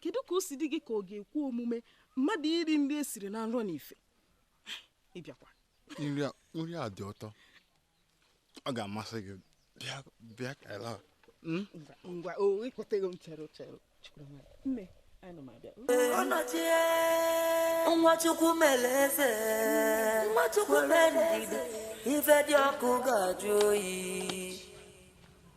kedu ka o si dị gị ka ọ ga-ekwe omume mmadụ iri nri e siri na nrọ na ife ịbịakwa nri a dị ụtọ ọ ga-amasị gị bịa bịa ka ịla hmm? ngwa o ịkpọtego m chere chere nne nwa chukwu mere eze nwa chukwu mere ndidi ife dị ọkụ ga-ajụ oyi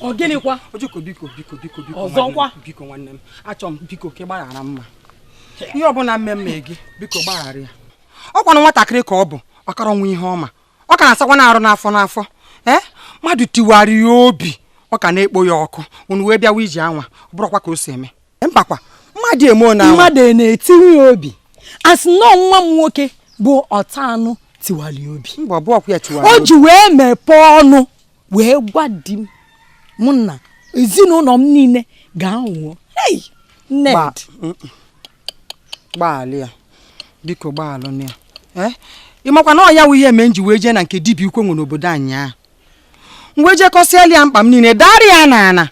ọ gịnịkwa ojoko biko biko biko biko ọzọkwa biko nwanne m achọ m biko ka ị gbaghara mma ihe ọbụla mma mere gị biko gbaghara ya ọ kwanụ nwatakịrị ka ọ bụ ọ karọ nwee ihe ọ ma ọ ka na-asakwanụ arụ n'afọ n'afọ ee mmadụ tiwara ya obi ọ ka na-ekpo ya ọkụ unu wee bịawa iji anwa ọ bụrọkwa ka o si eme mbakwa mmadụ eme onye ahụ mmadụ na-etiwa ya obi a sị na nwa m nwoke bụ ọta anụ tiwali obi mba ọbụ ọkwa ya tiwali o ji wee mepee ọnụ wee gwa di m mụ na ezinụlọ m niile ga-anwụọ nnedị gbaalụ ya biko gbaalụ ya ị makwa na ọ ya wụ ihe mere m ji wee jee na nke dibịa ukwu e nwe n'obodo anyị ahụ m wee je kọsịalụ ya mkpa m niile dara ya na ana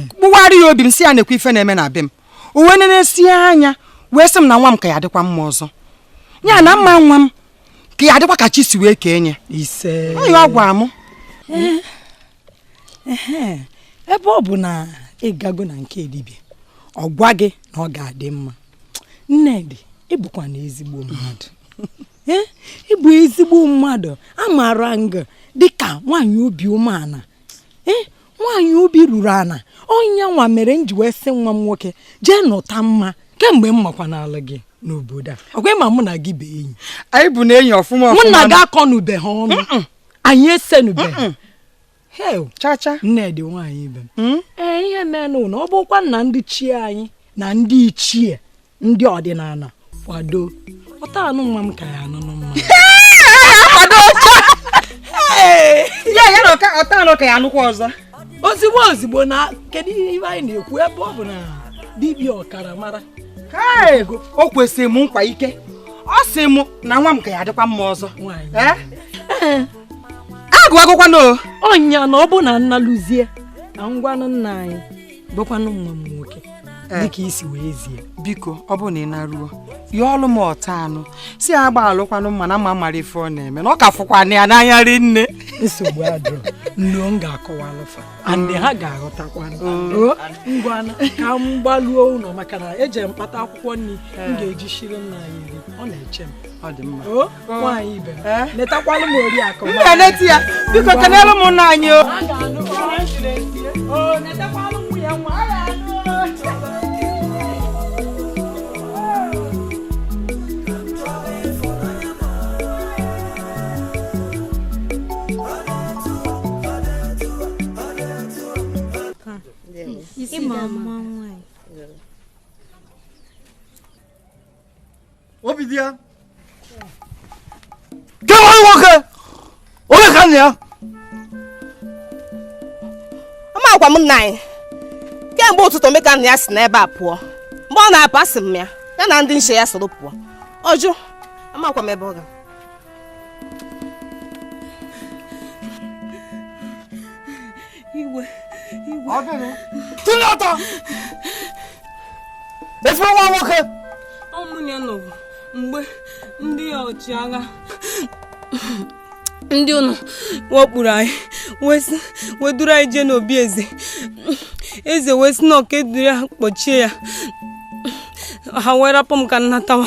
kpugheere ya obi m sị ya nekwa ife na-eme na be m o wee nesie anya wee sị m na nwa m ka ya dịkwa mma ọzọ ya na mma nwa m ka ya dịkwa ka chi si wee kee nye ọ ya ọ gwara m ebe ọ bụ na ị gago na nke dibịa ọ gwa gị na ọ ga-adị mma nnedị ị bụkwanụ ezigbo mmadụ ee ị bụ ezigbo mmadụ amara m gị dịka nwaanyị obi umeala ee nwaanyị obi ruru ala ọ ya nwa mere m ji wee sị nwa m nwoke jee nụta mma kemgbe m makwanalụ gị n'obodo a ọkwa ị ma mụ na gị bụ enyi anyị bụnụ enyi ọfụma ọfụma mụ na gị akọnubeha ọnụ anyị esenube chacha nnedị nwaanyị ibe m hmm? ee ihe menụ na ọ bụkwa na ndị chi anyị na ndị ichie ndị ọdịnala kwado ọta anụ nwa m ka ya anụ mma ya ya na ọta anụ ka ya anụkwa ọzọ ozigbo ozigbo na kedu ihe anyị na-ekwu ebe ọ bụ na dibịa ọkara mara o kwesiri m nkwa ike ọ sị m na nwa m ka ya adịkwa mma ọzọ agụwagokwana o ọnya na ọ bụ na m naluzie na m gwanụ nna anyị gwakwanụ nwa m nwoke eh. dịka i si wee zie biko ọ bụ na ị naruo yọọlụ m ọta anụ sị ya gbaalụkwanụ mma na mma amarọ ife ọ na-eme na ọ ka fụkwanụ ya n'anya ri nne nsogbu adịrọ m luo m ga-akọwalụ fa andị ha ga-aghọtakwa oh. ngwanụ ka m gbaluo ụlọ maka na eje m kpata akwụkwọ nri m eh. ga-eji shiri nna anyị nri ọ na-eche m ọ dị mma oh. nwaanyị ibe netakwalụ m oriakụ m na-eneta ya biko kenere m nna anyị o ịma mma nwaanyị Obidiya kee nwa nwoke onye ka nna ya amakwa m nna anyị kemgbe ụtụtụ mgbe ka nna ya si n'ebe a pụọ mgbe ọ na-apụ asị m ya ya na ndị nche ya soro pụọ ọ jụ amakwa m ebe ọ ga Igwe, igwe. Ọ gịnị? Tụnye ọtọ! Efu nwa nwoke! Ọ mụ na ya nọbụ mgbe ndị ọchịagha ndị ụnọ wakpuru anyị wee duru anyị jee n'obi eze eze wee sị na ọ ka e duru ya kpọchie ya ha wee rapụ m ka m natawa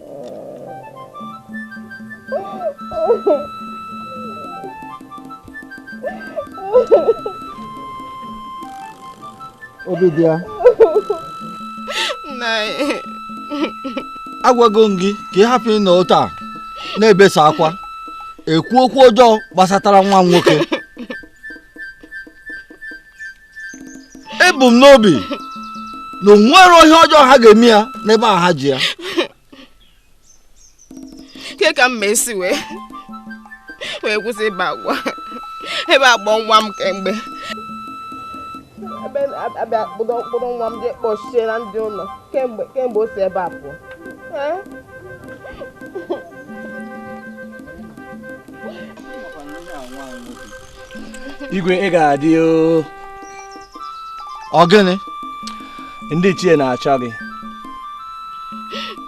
Obidiya agwago m gị ka ị hapụ ịnọ otu a na-ebesa akwa ekwu okwu ọjọọ gbasatara nwa m nwoke ebu m n'obi na o nwere ihe ọjọọ ha ga-eme ya n'ebe a ha ji ya kee ka m esi wee wee kwụsị ibe akwa ebe a kpọ nwa m kemgbe ebe a bịa kpụdọ mkpụrụ nwa m jee kpọchie na ndị ụlọ kemgbe kemgbe o si ebe a pụọ igwe ị ga-adị ọ gịnị ndị ichie na-achọ gị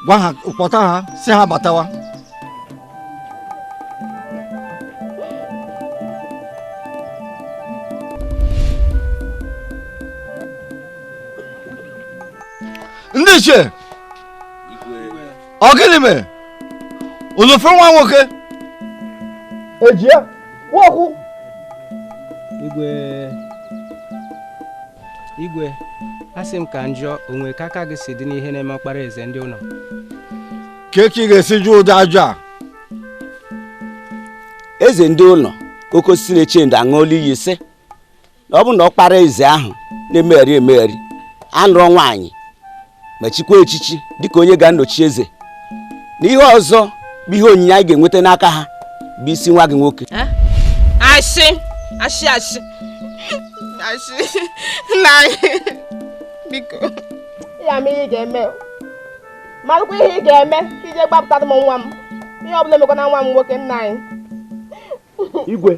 gwa ha kpọta ha sị ha batawa ndị ichie ọ gịnị mere olofe nwa nwoke eji ya nwakwụ igwe igwe asị m ka m jụọ o nwe ka aka gị si dị n'ihe na-eme ọkpara eze ndị ụlọ kee etu ị ga-esi jụ ụdị ajụjụ a eze ndị ụlọ oke osisi na-eche ndo aṅụọla iyi sị na ọ bụ na ọkpara eze ahụ na-emegharị emegharị anụrọ nwaanyị ma chikwa echichi dịka onye ga-anọchi eze na ihe ọzọ bụ ihe onyinye anyị ga-enweta n'aka ha bụ isi nwa gị nwoke eh? asị asị asị asị nna anyị biko ya ma ihe ị ga-eme marụkwa ihe ị ga-eme iji gbapụtara m nwa m ihe ọ bụla emekwana nwa m nwoke nna anyị igwe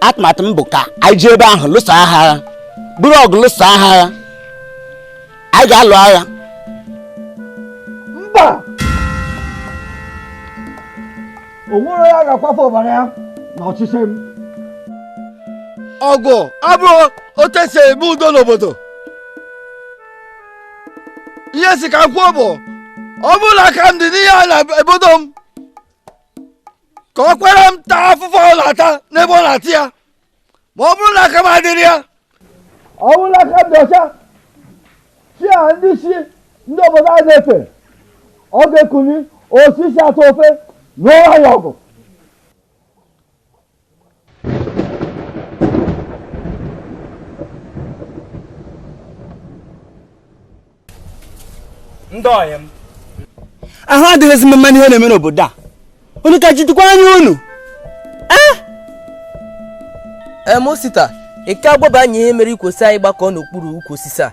atụmatụ m bụ ka anyị jee ebe ahụ lụsa ha agha ọ bụrụ ọgụ lụsa ha agha anyị ga-alụ agha mba o nwerọ onye ga-akwafu ọbara ya na ọchịchị m ọgụ abụrọ otu e si eme udo n'obodo ihe m sị ka m kwuo bụ ọ bụrụ na aka m dị n'ihe a na-ebodo m ka ọkpara m taa afụfụ ọ na-ata n'ebe ọ na-ata ya ma ọ bụrụ na aka m adịrọ ya ọ bụrụ na aka m dị ọcha chi a ndị isi ndị obodo a na-efe ọ ga-ekuli osisi atọ ofe nụọ ya ọgụ ndị ọyị m ahụ adịghịzi m mma n'ihe na-eme n'obodo a unu ka jidekwa anya unu em osita ị ka agwaba anyị ihe mere i kwo sị anyị gbakọọ n'okpuru ukwu osisi a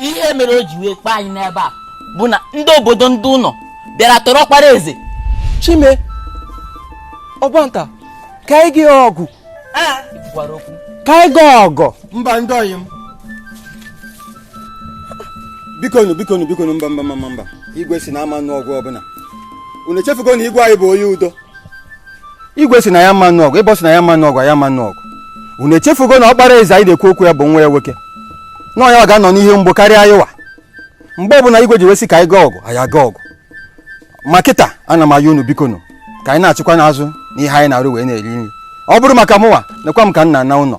ihe mere o ji wee kpọọ anyị n'ebe a bụ na ndị obodo ndị ụlọ bịara tọrọ ọkpara eze chime ọgbanta ka anyị jee ọgụ gwara okwu ka anyị jee ọgụ mba ndị ọyị m bikonu bikonu bikonu mba mba mba mba igwe sị na ama anụ ọgụ ọbụla unu echefugo na igwe anyị bụ onye udo igwe sị na ya ama anụ ọgụ igwe sị na ya ama anụ ọgụ ya ama anụ ọgụ unu echefugo na ọkpara eze anyị na-ekwu okwu ya bụ nwa ya nwoke na yanwa ga-anọ n'ihe mgbu karịa anyịnwa mgbe ọbụla igwe ji wee sị ka anyị gaa ọgụ anyị aga ọgụ ma kịta ana m ayọ unu biko nụ ka anyị nachikwanụ azụ n'ihe anyị na-arụ wee na-eri nri ọ bụrụ maka mụnwa nekwa m ka m na-ana ụlọ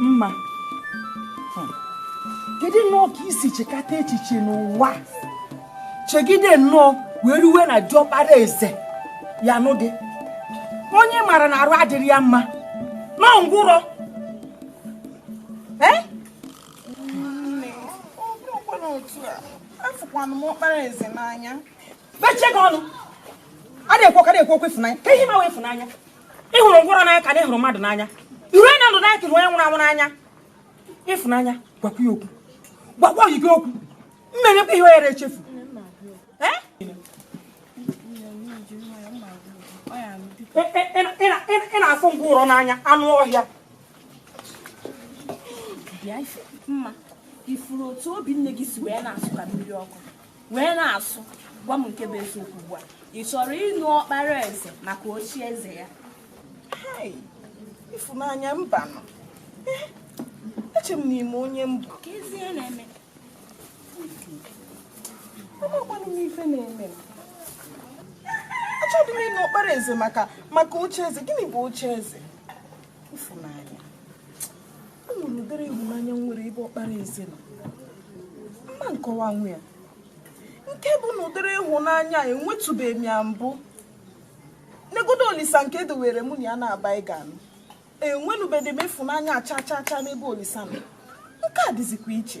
mma hmm. kedu nnọọ ka i si chekata echiche n'ụwa chegide nnọọ wee ruwe na diọkpara eze ya-anụ gị onye ị mara na arụ adịrọ ya mma nọ ngwụrọ eh? afụkwanụ m ọkpara eze n'anya mechie gị ọnụ a na-ekwu ọka na-ekwu okwu ịfụnanya kee ihe ị ma wụ ịfụnanya ị hụrụ ngwọrọ n'anya ka na ị hụrụ mmadụ n'anya ị hụrụ onye ndụ n'anya ka ị hụrụ onye nwụrụ anwụ n'anya ịfụnanya gwakwa ya okwu gwakwa oyi gị okwu m menyekwa ihe oyere echefu ị na-afụ ngwọrọ n'anya anụ ọhịa mma ị fụrụ otu obi nne gị si wee na-asụ ka mmiri ọkụ wee na-asụ gwa m nke bụ eziokwu ugbu a ị chọrọ ịnụ ọkpara eze maka oche eze ya ịfụnanya mbanụ eh, eche m na ị ma onye m bụ kezi ihe na-eme amakwanụ m ife na-eme m achọghị m ịnụ ọkpara eze maka maka oche eze gịnị bụ oche eze ịfụnanya ọ nwere ụdịrị ịhụnanya m nwere ebe ọkpara eze nọ m ma akọwanwu ya nke bụ na ụdịrị ịhụnanya enwetụbeghị m ya mbụ negodu olisa nke e dowere mụ na ya na ọ bụ anyị ga-anụ enwenubedị m ịfụnanya cha cha cha n'ebe olisa nọ nke a dịzikwa iche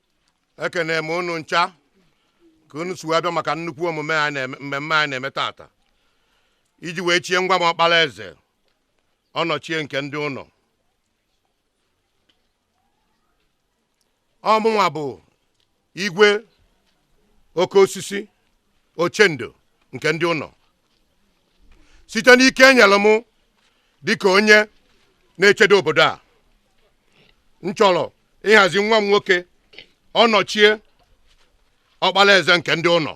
ekene m unu ncha ka unu si wee bịa maka nnukwu mmemme anyị na-eme tata iji wee chie nwa m ọkpala eze ọnọchie nke ndị ụnọ ọ mụnwa bụ igwe oke osisi ochendo nke ndị ụnọ site n'ike e nyelụ m dịka onye na-echedo obodo a m chọrọ ịhazi nwa m nwoke ọnọchie ọkpala eze nke ndị ụnọ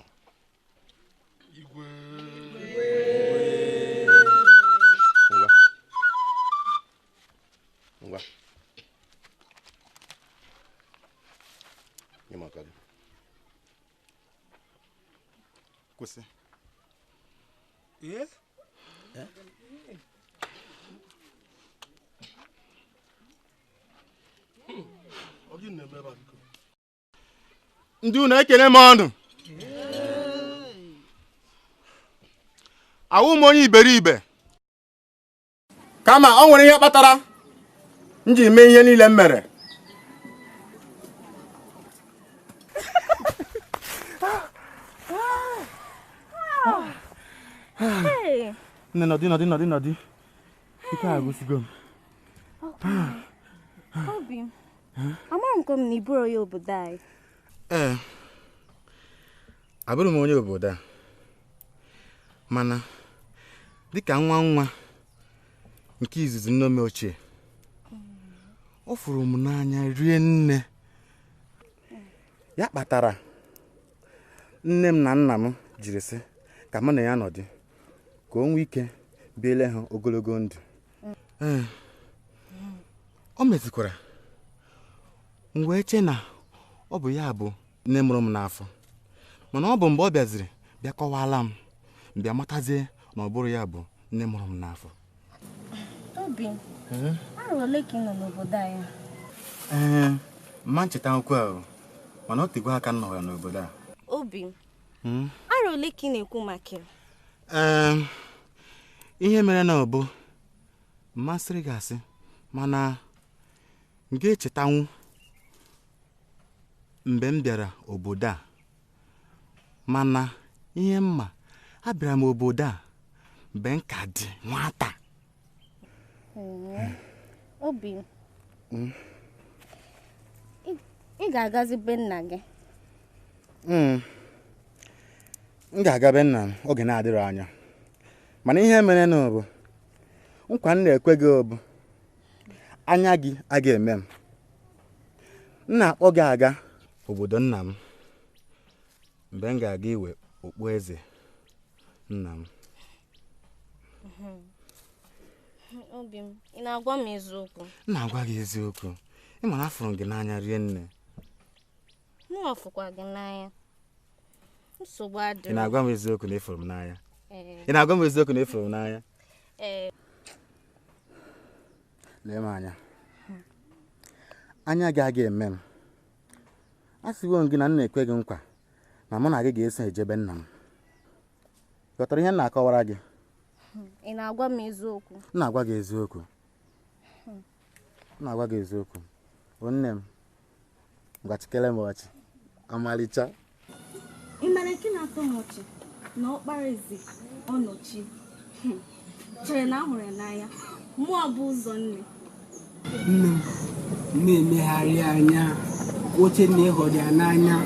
kwụsị eh? Eh? ndị ụnọ ekene m unu awụghị m onye iberibe kama ọ nwere ihe kpatara m ji mee ihe niile m mere nne nọdị nọdị nọdị nọdị ike agwụsịgo m obi m amaghị m na ị bụrọ onye obodo anyị ee abụrọ m onye obodo a mana dịka nwa nwa nke izizi nne m ochie ọ fụrụ m n'anya rie nne ya kpatara nne m na nna m jiri sị ka mụ na ya nọdụ ka o nwee ike biele ha ogologo ndụ ee o mezikwara m wee chee na ọ bụ ya bụ nne mụrụ m n'afọ mana ọ bụ mgbe ọ bịaziri bịa kọwaala m m bịa matazie na ọ bụrọ ya bụ nne mụrụ m n'afọ obi arọ ole ka ị nọ n'obodo anyị ee m ma nchetakwu arọ mana o tegwo aka m nọrọ n'obodo a obi hmm? arọ ole ka ị na-ekwu maka ya ee ihe mere na ọ bụ m ma sịrị gị asị mana m ga-echetanwu mgbe m bịara obodo a mana ihe m ma abịara m obodo a mgbe m ka dị nwata obi hmm? ị ga-agazi be nna gị hmm. m ga-aga be nna m oge na-adịrọ anya mana ihe mere na ọ bụ nkwa m na-ekwe gị bụ anya gị a ga-eme m m na-akpọ gị aga obodo nna m mgbe m ga-aga iwe okpu eze nna m obi m ị na-agwa m eziokwu m na-agwa gị eziokwu ị ma na afụrụ m gị n'anya rie nne mụ afụkwa gị n'anya nsogbu adịghị ị na-agwa m eziokwu na ị fụrụ m n'anya ị na-agwa m eziokwu na ị fụrụ m n'anya lee m anya anya gị a ga-eme m asịwo m gị na m na-ekwe gị nkwa na mụ na gị ga-eso eje be nna m ghọtara ihe m na-akọwara gị ị na-agwa m eziokwu m na-agwa gị eziokwu M na-agwa gị eziokwu ọ nne m ngwa chịkere m ọchị ọmalịcha ị mara nke na-atọ m ọchị na ọkpara eze ọnọchie Hmm. chere na a hụrụ ya n'anya ma ọ bụ ụzọ nne nne m na-emegharị anya o chee na ị hụrụ ya n'anya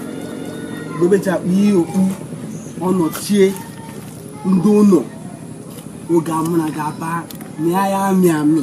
dobechapụ ihe okpu ọnọchie ndị ụlọ oge a mụ na ga-aba mịa ya amị amị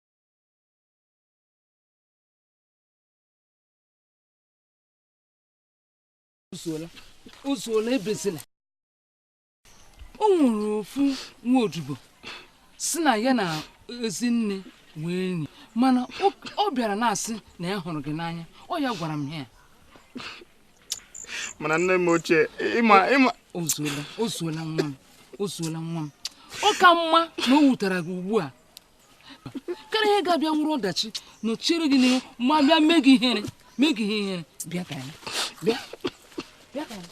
ozuola ozuola ebezila o nwere ofu nwa odibo si na ya na ezinne nwee enyi mana ọ bịara na-asị na ya hụrụ gị n'anya ọ ya gwara m ya mana nne m ochie ịma ịma ozuola ozuola nwa m ozuola nwa m ọ ka mma na o wutere gị ugbu a karịa ihe ga-abịa wụrụ ọdachi nọchiere gị n'ihu ma bịa mee gị ihere mee gị ihe ihere bịa ka anyị bịa bịa ka anyị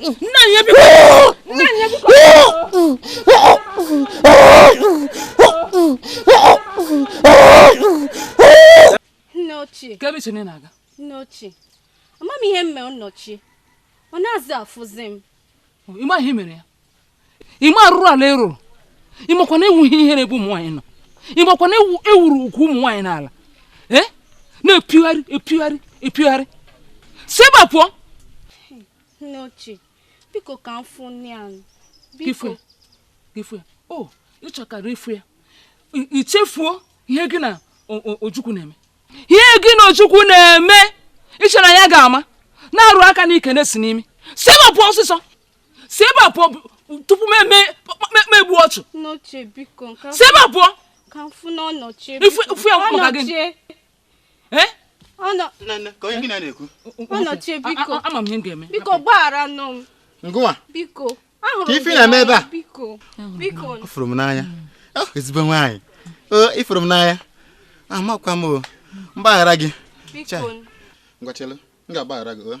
nna ya biko nna ya biko nne ochie kee ebe i chere ị na-aga nne ochie ama m ihe m mere nne ochie ọ nazị afụzi m ị ma ihe i mere ya ịma arụrụ ala ị rụrụ ịmakwa na ị wụ ihe ihere n'ebe ụmụ nwaanyị nọ ịmakwa na ị wụrụ ugwu ụmụ nwaanyị n'ala ee eh? na-epigharị epigharị epigharị si ebe a pụọ nne ochie biko ka m fụ nụ ya biko ịfụ ya o oh, ịchọkwara ịfụ ya ichefuo ihe gị na ojukwu na-eme ihe gị na ojukwu na-eme iche na ya ga-ama na-arụ aka n'ike na-esi n'imi si ebe a pụọ ọsịsọ si ebe a pụọ tupu m emee gbuo ọchụ si ebe a pụọ ịfụ ya maka gị ama m ihe m ga-eme biko gbaghara nụ m ngwa biko kee ife na-eme ebe a ọ fụrụ m n'anya oh, ezigbo nwaanyị oh, ịfụrụ m n'anya amakwa m mgbaghara gị ngwa chelu m ga-agbaghara gị oh.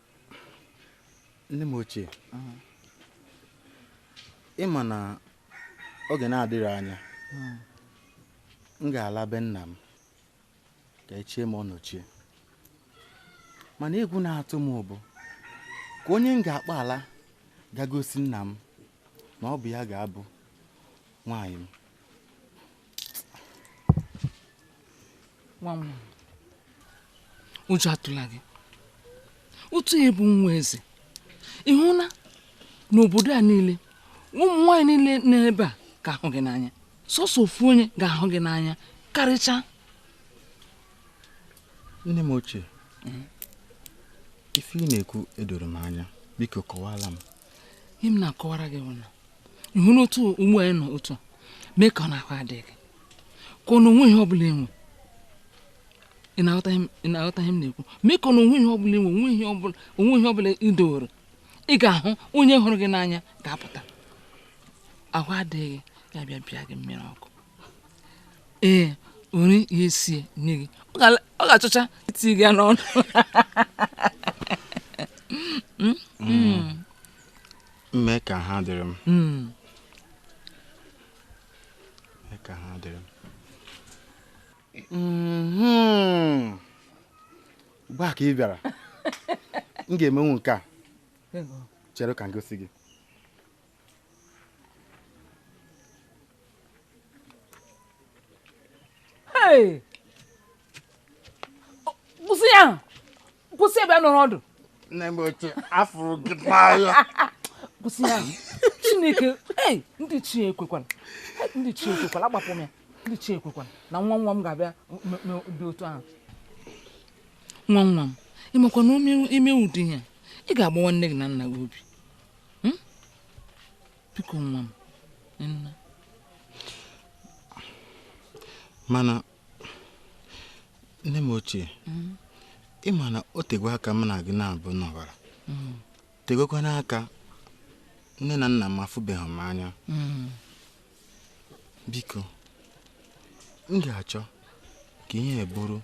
nne m ochie ị ma na oge na-adịrọ anya m ga-ala be nna m ka e chie m ọnọchie mana egwu na-atụ m bụ kee onye m ga-akpọla ga gosi nna m na ọ bụ ya ga-abụ nwaanyị m ụjọ atụla gị otu ị bụ nwa eze ị hụla n'obodo a niile ụmụ nwaanyị niile n'ebe a ga-ahụ gị n'anya sọsọ ofu onye ga-ahụ gị n'anya karịcha nne m ochie mm. ife ị na-ekwu edorọ m anya biko kọwara m ihe m na-akọwara gị bụ na ịhụ n'otu ugbu a ị nọ otu a mee ka ọ na ahụ adịghị ka ọ na o nweghị ihe ọ bụla i nwe ị na-aghọta ihe m na-ekwu mee ka ọ na o nweghị ihe ọ bụla i nwe o nweghị ihe ọ bụla i dowere ị ga-ahụ onye hụrụ gị n'anya ga-apụta ahụ adịghị ya bịa bịa gị mmiri ọkụ ee ori ihe sie nye gị ọ ga-achọcha iti gị n'ọnụ hmm? Hmm. mme ka ha dịrị m hmm. mm-hmm. gbaa ka ị bịara m ga-emenwu nke a chere ka m gosi gị ihe kwụsị ya kwụsị ebe nọrọ ọdụ nne m ochie afụrụ m gị n'anya kwụsị ya chineke ee ndị ichie ekwekwala ndị ichie ekwekwala agbapụ m ya ndị ichie ekwekwala na nwa nwa m ga-abịa dị otu ahụ nwa nwa m ị makwa na i mee ụdị ihe a ị ga-agbawa nne gị na nna gị obi hmm? biko nwa m nna mana nne m ochie mm. ị ma na o tegwo aka m na gị naabọ nọbara mm. tegwokwanụ aka nne na nna m afụbeghị m anya mm. biko m ga-achọ ka ihe bụrụ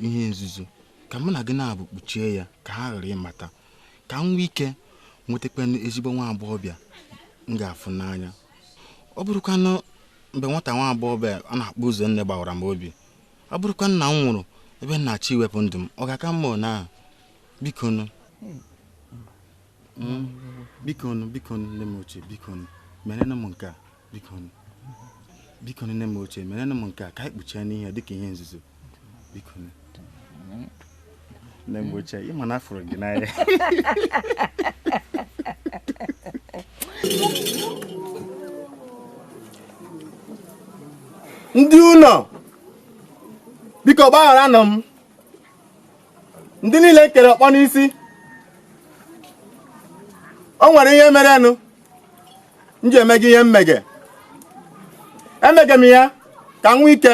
ihe nzuzo ka mụ na gị naabọ kpuchie ya ka ha ghara ịmata ka m nwee ike nwetakwanụ ezigbo nwa agbọghọbịa m ga-afụ n'anya ọ bụrụkwanụ mgbe nwata nwa agbọghọbịa a na-akpọ Ụzọnne gbawara m obi ọ bụrụkwa na m nwụrụ ebe na chi wepụ ndụ m ọ ga-aka mma na biko nụ hmm? biko nụ biko nụ nne m ochie biko nụ merenụ m nke a biko nụ biko nne m ochie merenụ m nke a ka anyị kpuchienụ ihe dịka ihe nzuzo nne m ochie ị ma na afụrụ m gị n'anya ndị ụlọ biko gbagharanụ m ndị niile m kere ọkpọ n'isi o nwere ihe merenụ m ji emege ihe m mege emege m ya ka m nwee ike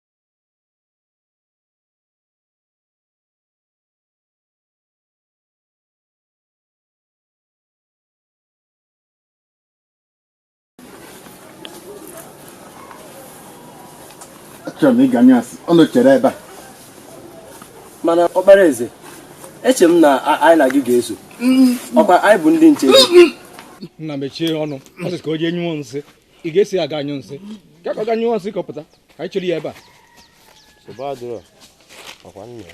achọrọ m ịga anyụ nsị unu chere ebe a mana ọkpara eze eche m na anyị na gị ga-eso ọkwa anyị bụ ndị nche nna mechie ọnụ ọ sị ka o jee nyụọ nsị ị ga-eso ya aga anyụ nsị ka ka ọ ga nyụọ nsị ka ọ pụta ka anyị chere ya ebe a nsogbu adịrọ ọkwa nna ya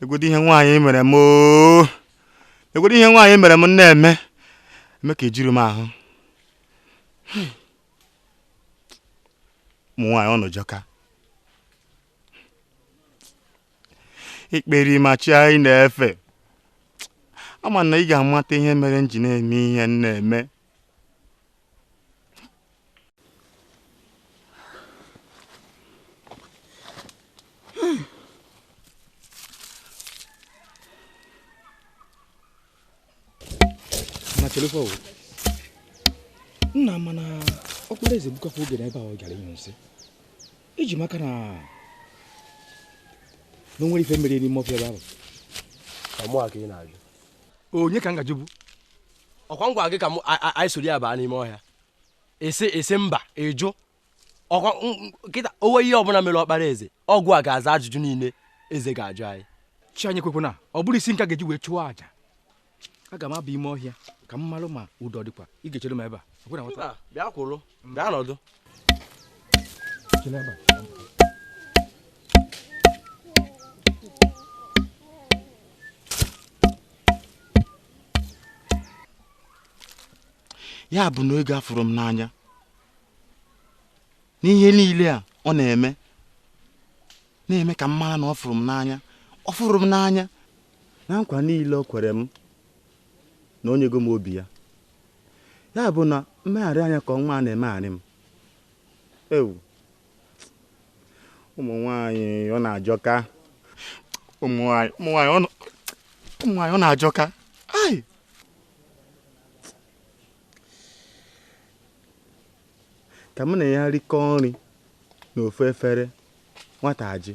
negodu ihe nwaanyị mere m oo negodu ihe nwaanyị mere m na-eme eme ka ejuru m ahụ ụmụ nwaanyị unu ajọka ekperima chi anyị na-efe ama m na ị ga-amata ihe mere m ji na-eme ihe m na-eme chelekwa o nna mana ọkpara eze egbukakwa oge n'ebe a ọ gara ịnyụ nsị eji m aka na na o nwere ife mere n'ime ọfịa ebe ahụ onye ka m ga-ajụ bụ ọkwa m gwa gị ka m anyị soro ya baa n'ime ọhịa ị sị ị sị mba ị jụ ọkwa kịta o nwee ihe ọbụla mere ọkpara eze ọ gịwa ga-aza ajụjụ niile eze ga-ajụ anyị chi anyị ekwekwana ọ bụrụ isi m ka a ga-eji wee chụọ aja aga m aba ime ọhịa ka m marụ ma udo dịkwa ị ga-echere m ebe a bịa kwụrụ gaa nọdụ ya bụ na oge afụrọ m n'anya n'ihe niile a ọ na-eme na-eme ka m mara na ọ fụrụ m n'anya ọ fụrụ m n'anya na nkwa niile o kwere m na o nyego m obi ya Ya bụ na mmegharị anya ka nwa a na-emegharị m. Ewu! Ụmụ nwaanyị unu ajọka. Ụmụ nwaanyị ụmụ nwaanyị unu- ụmụ nwaanyị unu ajọka. Ai! Ka mụ na ya rikọọ nri n'ofu efere nwata ajụ.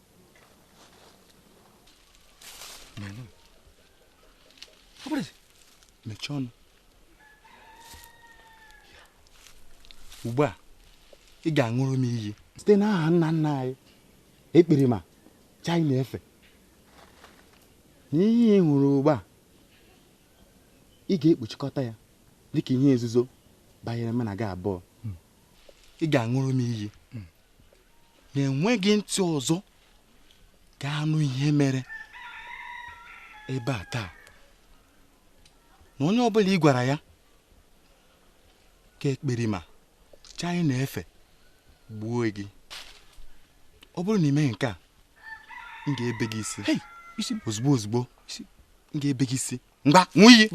mechie ọnụ ugbu a ị ga-aṅụrụ m iyi site n'aha nna nna anyị ekperima chi anyị na-efe na ihe ị hụrụ ugbu a ị ga-ekpuchikọta ya dịka ihe nzuzo banyere mụ na gị abụọ ị ga-aṅụrụ m iyi na enweghị ntị ọzọ ga-anụ ihe mere ebe a taa na onye ọbụla ị gwara ya ka ekperima chi anyị na-efe gbuo gị ọ bụrụ na ị meghị nke a m ga-ebe gị isi ozugbo ozugbo m ga-ebe gị isi ngwa ṅụọ iyi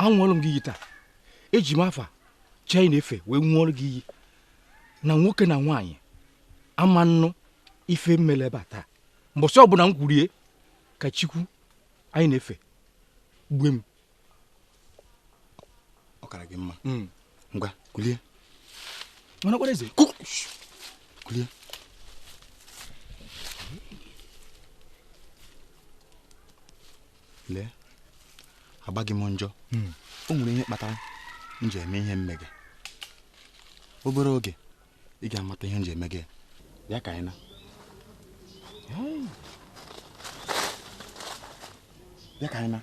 aṅụọlụ m gị iyi taa eji m afa chi anyị na-efe wee ṅụọlụ gị iyi na nwoke na nwaanyị ama anụ ife mele ebe a taa mbọsị ọbụla m kwuru ya ka chukwu anyị na-efe gbue m ọ kara gị mma hmm. ngwa kulie mana kwara eze kulie lee agbaghị m njọ hmm. o nwere ihe kpatara m ji eme ihe m mega obere oge ị ga-amata ihe m ji eme gị bịa ka anyị naa bịa ka anyị naa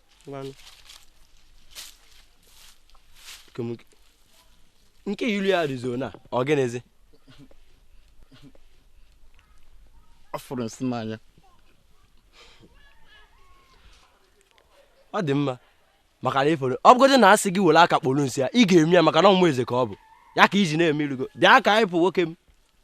ngwanụ Nke m- nke ilu ya rụzoro na ọ gịnịzi ọ fụrụ nsị n'anya ọ dị mma maka na ị fụrụ ọ bụgodị na a sị gị were aka kporo nsị ya ị ga-eme ya maka na ọ nwa eze ka ọ bụ ya ka i ji na-eme irugo bịa ka anyị pụọ nwoke m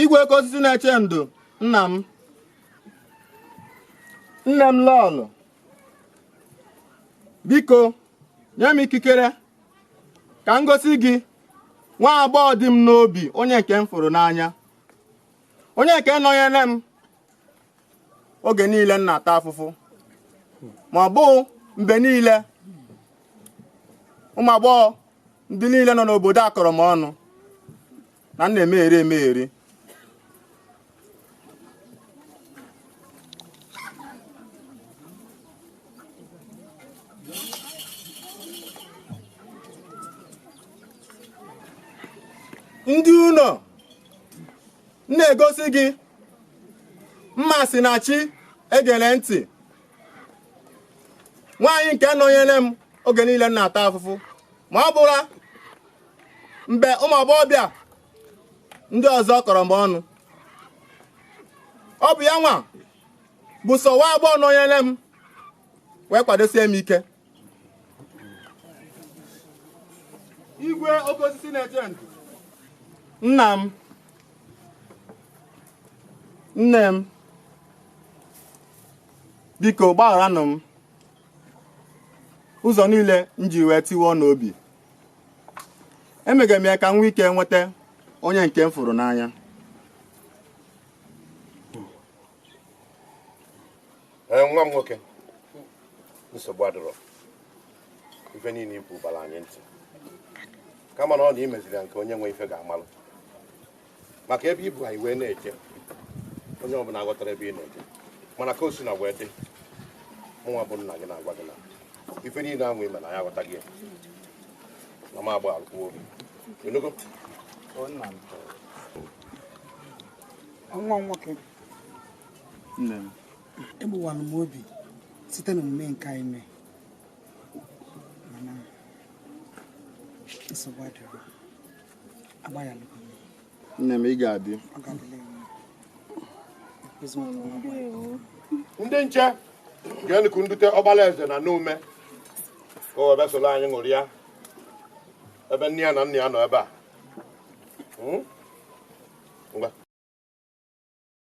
igwe oke osisi na-eche ndo nna m nne m lọlọ biko nye m ikikere ka m gosi gị nwa agbọghọ dị m n'obi onye nke m fụrụ n'anya onye nke nọnyere m oge niile m na-ata afụfụ ma ọ bụ mgbe niile ụmụ agbọghọ ndị niile nọ n'obodo a kọrọ m ọnụ na m na-emegheri emegheri ndị ụlọ m na-egosi gị Mmasinachi egere ntị nwaanyị nke nọnyere m oge niile m na-ata afụfụ ma ọ bụla mgbe ụmụ agbọghọbịa ndị ọzọ kọrọ m ọnụ ọ bụ ya nwa bụ sọ nwa agbọghọ nọnyere m wee kwadosie m ike igwe oke osisi na-eche ndo nna m nne m biko gbagharanụ m ụzọ niile m ji wee tiwaa unu obi emega m ya ka m nwee ike nweta onye nke m fụrụ n'anya ee nwa m nwoke nsogbu adịrọ ife niile i kwu bara anyị ntị kama na ọ na i meziri ya nke onye nwe ife ga-amalụ maka ebe i bu anyị wee na-eje onye ọbụla aghọtarọ ebe ị na-eje mana ka o sina wee dị mụnwa bụ nna gị na-agwa gị na ife niile ahụ i me na ya aghọtago ya na m agbaalụkwuo gị ị nụgo nwa m nwoke i gbuwara m obi site na omume nke a i mee mana nsogbu adịrọ agbaghara nne m ị ga-adị ndị nche gaanụkwa dute ọkpala eze nọ n'ime ka o wee soro anyị ṅụrịa ebe nne ya na nna ya nọ ebe a hmm?